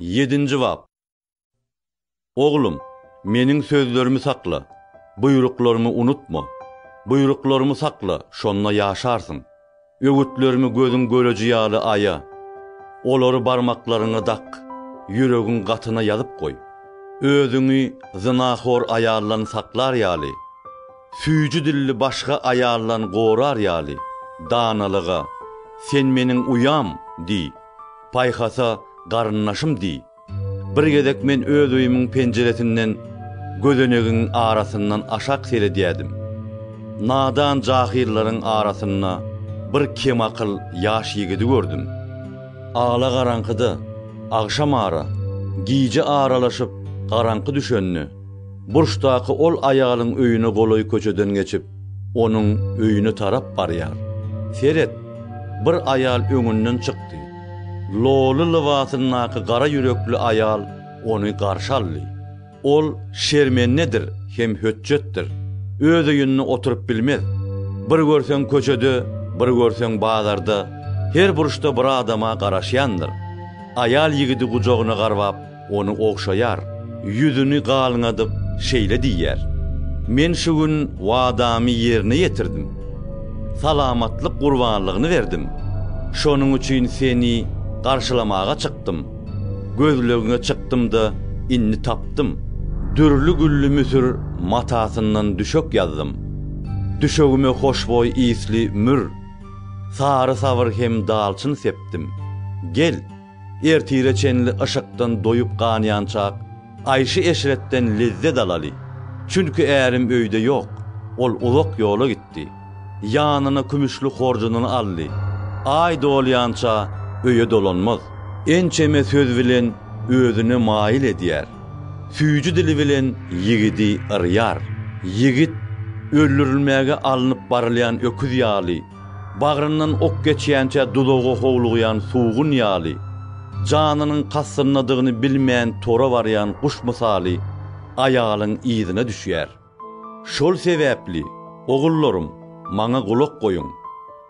Ýedinji bap. Oglum, Meniň sözlerimi sakla, buýruklarymy unutma. Buýruklarymy sakla, şonda ýaşarsyň. Öwütlerimi gözüň göreji ýaly aýa. Olary barmaklaryňa dak, ýüregiň gatyna ýazyp goý. Özüňi zynahor aýaldan saklar ýaly, süýji dilli başga aýaldan gorar ýaly danalyga, Sen Meniň uýam! diý. Paýhasa, garyndaşym diý. Bir gezek men öz öýümiň penjiresinden gözenegiň arasyndan aşak seredýädim. Nadan jahyllaryň arasynda bir kemakyl ýaş ýigidi gördüm. Ala-garaňkyda, agşamara, gije aralaşyp garaňky düşende, Burçdaky ol aýalyň öýüne golaý köçeden geçip, onuň öýüne tarap barýar. Seret, bir aýal öňünden çykdy. Loly lybasyndaky gara ýürekli aýal ony garşy aldy. Ol şermendedir hem hötjetdir. Öz öýünde oturyp bilmez. Bir görseň köçede, bir görseň bazarda, her burçda bir adama garaşýandyr. Aýal ýigidi gujagyna garbap, Ony ogşaýar. Ýüzüni galňadyp, şeýle diýýär, Men şu gün wadamy ýerine ýetirdim. Salamatlyk gurbanlygyny berdim. Şonuň üçin seni garşylamaga çykdym. Gözlegiňe çykdym-da, indi tapdym. Dürli gülli müsür matasyndan düşek ýazdym. Düşegime hoşboý ysly mür, sary sabyr hem dalçyn sepdim. Gel! Ertire çenli yşykdan doýup-ganýançak, aýşy-eşretden lezzet alaly. Çünki ärim öýde ýok. Ol uzak ýola gitdi. Ýanyna kümüşli horjunyny aldy. Aý dolýança öýe dolanmaz. Ençeme söz bilen özüne maýyl edýär. Süýji dili bilen ýigidi yrýar. Ýigit öldürilmäge alnyp barylýan öküz ýaly, Bagryndan ok geçýänçä duzaga howlugýan sugun ýaly, janynyň kassyndadygyny bilmän tora barýan guş mysaly aýalyň yzyna düşýär. Şol sebäpli, ogullarym, maňa gulak goýuň,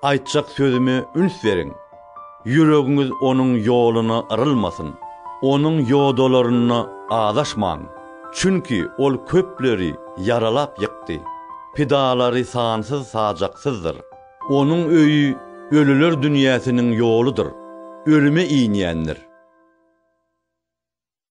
aýtjak sözüme üns beriň. Ýüregiňiz onuň ýoluna yrylmasyn, onuň ýodalarynda azaşmaň, çünki ol köpleri ýaralap ýykdy, pidalary sansyz-sajaksyzdyr. Onuň öýi ölüler dünýäsiniň ýoludyr, ölüme inýändir.